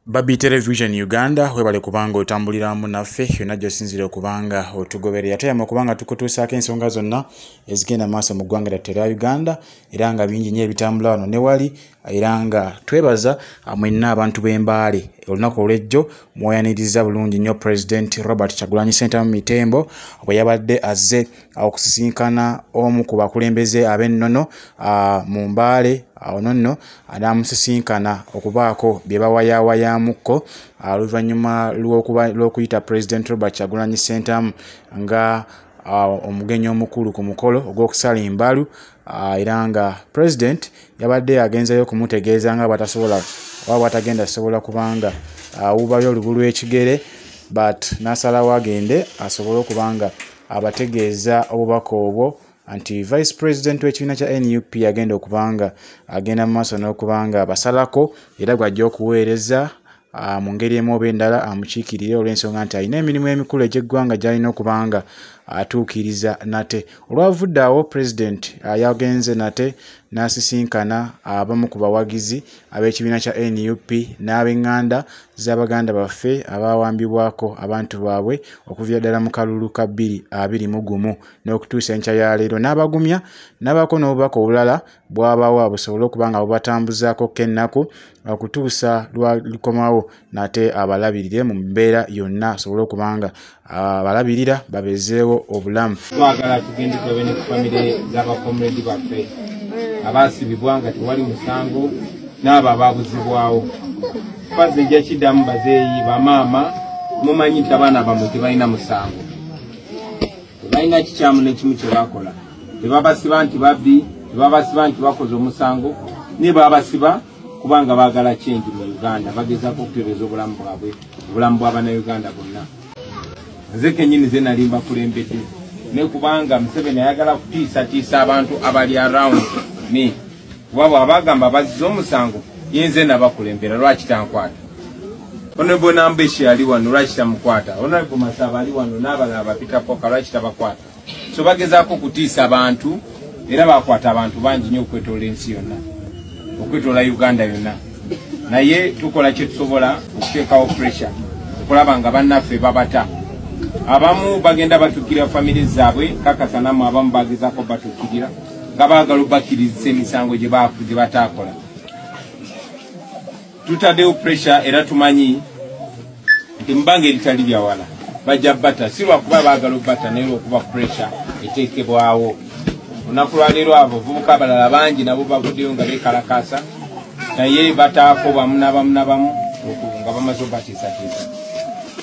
Babi Television Uganda webale kubanga otambuliramu naffe yonna gy'osinzira okubanga otugoberera tuyama okubanga tukutuusaako ensonga zonna ezigenda maaso mu ggwanga lyattu erya Uganda era nga bingi nnyo ebitambula wano ne wali era nga twebaza ah, mwenna abantu b'embaale olunaku olw'ejjo mwayaniriza bulungi nnyo pulezidenti robert kyagulanyi sentamu mitembo bwe yabadde azze ah, okusisinkana omu ku bakulembeze ab'ennono ah, mu mbaale awo nonno anaamusisinkana okubaako bye bawayawayamukko ah, oluvannyuma lw'okuyita president robert kyagulanyi sentamu nga ah, omugenyi omukulu ku mukolo ogw'okusala embalu ah, era nga president yabadde agenzayo okumutegeeza nga batasobola oba bwatagenda sobola kubanga awubayo olubu lw'ekigere but n'asalawo agende asobole okuba nga abategeeza obubaka obwo nti vice president w'ekibiina kya nup agenda okubanga agenda mu maaso n'okubanga abasalako era gwajja okuweereza ah, mu ngeri emu oba endala amukiikirire olw'ensonga nti alina emirimu emikulu egy'eggwanga gy'alina okubanga atuukiriza nate olwavudde awo president ah, yagenze nate n'asisinkana abamu ku bawagizi ab'ekibiina kya nup n'ab'eŋŋanda z'abaganda baffe abaawambibwako abantu baabwe okuviira ddala mu kalulu ka bbiri abiri mu gumu n'okutuusa enkya ya leero n'abagumya n'abaako n'obubaka obulala bwabawa busobole okuba nga bubatambuzaakokko ennaku okutuusa lwalikomawo nate abalabirire mu mbeera yonna asobole okuba nga abalabirira babezeewo obulamu twagala tugende tulabe ne kufamire z'abakomredi baffe abaasibibwa nga tewali musango n'abo abaabuzibwawo fazi ejja kiddamu bazeeyi bamaama mumanyi nti abaana bamwe tebalina musango tebalina kikyamu nekimu kyebakola tebabasiba nti babbi tebabasiba nti bakoze omusango naye babasiba kubanga bagala kyengi mu uganda bagezako okutereza obulamu bwabwe obulamu bwabanauganda bonna nze kenyini ze nali mbakulembedde ne kubanga museveni ayagala kutiisatiisa abantu abali around me kuba bwabagamba bazza omusango yinze nabakulembera lwaki tankwata onebo nambeshi ali wano lwaki tamukwata onebo masaba ali wano nabalala bapitapoka lwaki tabakwata so bagezako okutiisa abantu era bakwata abantu bangi nyo okwetoola ensi yonna okwetoola uganda yonna naye tukola kyetusobola okuteekawo pressure okulaba nga bannaffe babata abamu bagenda batukirira famire zaabwe kakasanamu abamu bagezako batukirira nga baagala obakkirizisa emisango gye bataakola tutaddewo pressure era tumanyi nti mubanga eritali lyawala bajja bata si lwakuba baagala obata naye lwokuba pressure eteekebwawo olunaku lwaleero abo ovubuka abalala bangi nabo bavuddeyo nga beekalakaasa naye bataako bamu nabamu nabamu nga bamaze obatiisatiisa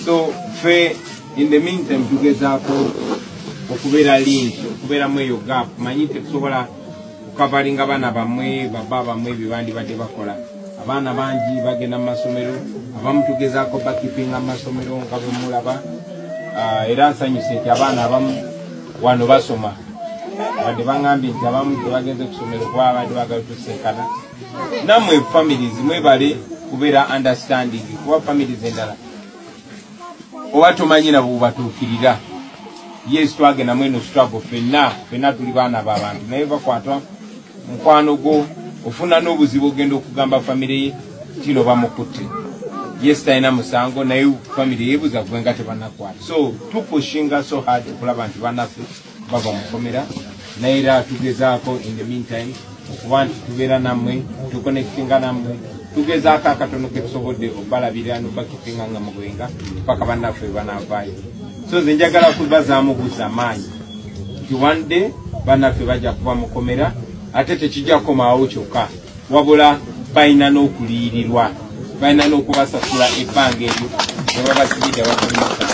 so fe in the meantime tugezaako okubeera link okubeeramu eyo gap manyi tetusobola kukavalinga baana bamwe baba bamwe byebandibadde bakola abaana bangi bagenda mu masomero abamu tugezaako bakipinga mu masomero nga bwemulaba ah, era nsanyuse nti abaana abamu wano basoma wadde bangambye nti abamu tebagenze kusomero kuba abadde bagala tusinkana namwe families mwebale kubeera understanding kuba families endala oba tomanyi nabo bubatuukirira yes twagenda mweno struggle fenna fenna tuli baana babantu naye bakwata mukwano gwo ofuna n'obuzibu ogenda okugamba famire ye tino bamukutte yes talina musango naye famire yebuza gwe nga tebanakwata so tupushinga so hard okulaba nti banaffe bava mu kkomera naye era tugezaako in the meantime okuba nti tubeera nammwe tukonekitinga nammwe tugezaako akatono ketusobodde obalabirira nobakitinga nga mugwenga paka bannaffe banavaayo so nze njagala kubazaamu buza maanyi nti one day bannaffe bajja kuba mukomera ate tekijja kukomaawo kyokka wabula balina n'okuliyirirwa balina n'okubasasula ebbanga eryo nebabasibidde bakomesa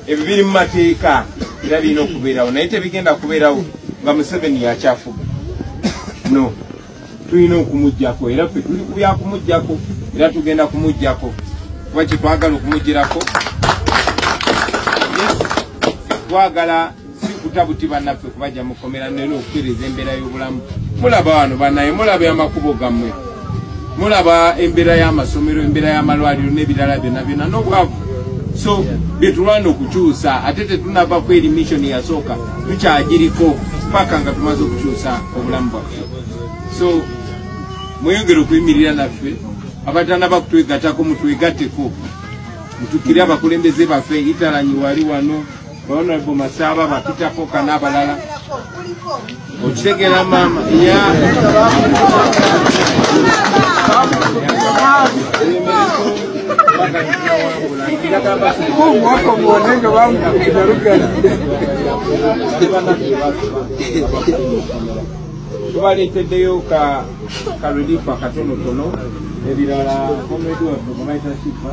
ebyo biri mu mateeka era birina okubeerawo naye tebigenda kubeerawo nga museveni yakyafuga no tulina okumugjako era fe tuli kubyakumugjako era tugenda kumugjako kuba kyetwagala okumugjirako twagala sikuta buti banaffe kubajja mukomera nera okutereza embeera y'obulamu mulaba wano banaye mulaba amakubo gammwe mulaba embeera y'amasomero embeera y'amalwaliro n'ebirala byona byona n'obwavu so byetulwana okukyusa ate tetunava ku eri missioni yasooka tukyagiriko paka nga tumaze okukyusa obulamu bwaffe so mweyongere okuyimirira naffe abatana bakutwegatako mutwegateko mutukire abakulembeze baffe italanyi wali wano Honorable Masaba Bakita Poka n'abalala okitegera maama ya mwaka mwone nga bamukira lugalide tubaleeteddeyo ka ka relief akatonotono ebirala komedi waffe kumaita sifa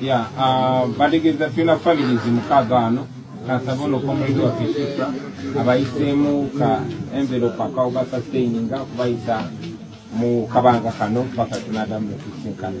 ya ah, bategeeza tulina families mukaaga wano kansaba ono komulido waffe shifra abayiseemu ka envelope akawuga sustaininga okubayisa mu kabanga kano paka tunadamu netusinkana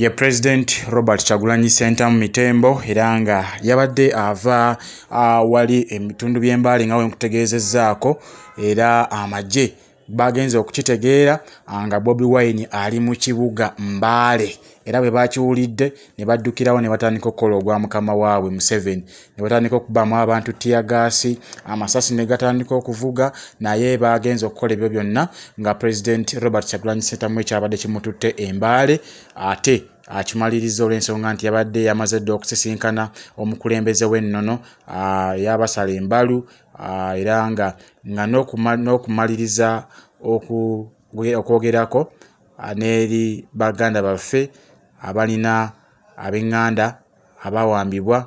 ye president robert kyagulanyi sentamu mitembo era nga yabadde ava awali ebitundu by'embaale nga wenkutegeezezaako era amagye bagenze okukitegeera ah, nga bobi wine ali mu kibuga mbaale era bwe bakiwulidde ne baddukirawo ne batandika okukola ogwa mukama waabwe museveni ne batandika okubamu abantu tiyagaasi amasasi ne gatandika okuvuga naye baagenza okukola ebyo byonna nga pulezidenti robert kyagulanyi sentamu ekyabadde kimututte embaale ate akimaliriza olw'ensonga nti yabadde yamaze dda okusisinkana omukulembeze w'ennono yabasala embalu ah, era nga nga n'okumaliriza okwogerako ah, n'eri baganda baffe abalina ab'eŋŋanda abawambibwa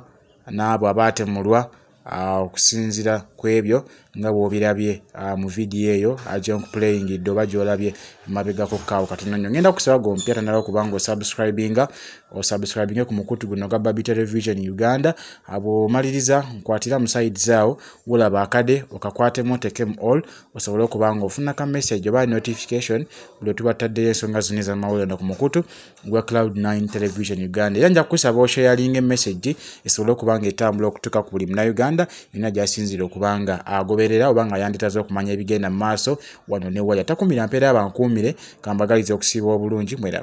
n'abo abaatemulwa ah, okusinzira ku ebyo nga bw'obirabye mu vidiyo eyo ajonk playing dde oba gy'olabye emabegako kaawo katono nnyo ngenda kusaba gompya tanaba okuba nga osubscribinga osubscribinge ku mukutu guno gwa babi television uganda bwomaliriza nkwatira mu side zaawo wolaba akade okakwatemu otekemu all osobole okuba nga ofuna ka message oba notification buli otuba tutaddeyo ensonga zino ezamawulire no ku mukutu gwa cloud 9 television uganda era nja kukusaba oshayalinga emessage esobole okuba nga etambula okutuuka ku buli munauganda yonna gyasinziira okuba nga agoberera oba nga yanditaza okumanya ebigenda mu maaso wano newaya takumira mpeera abankuumire kambagaliza okusiiba obulungi mweraba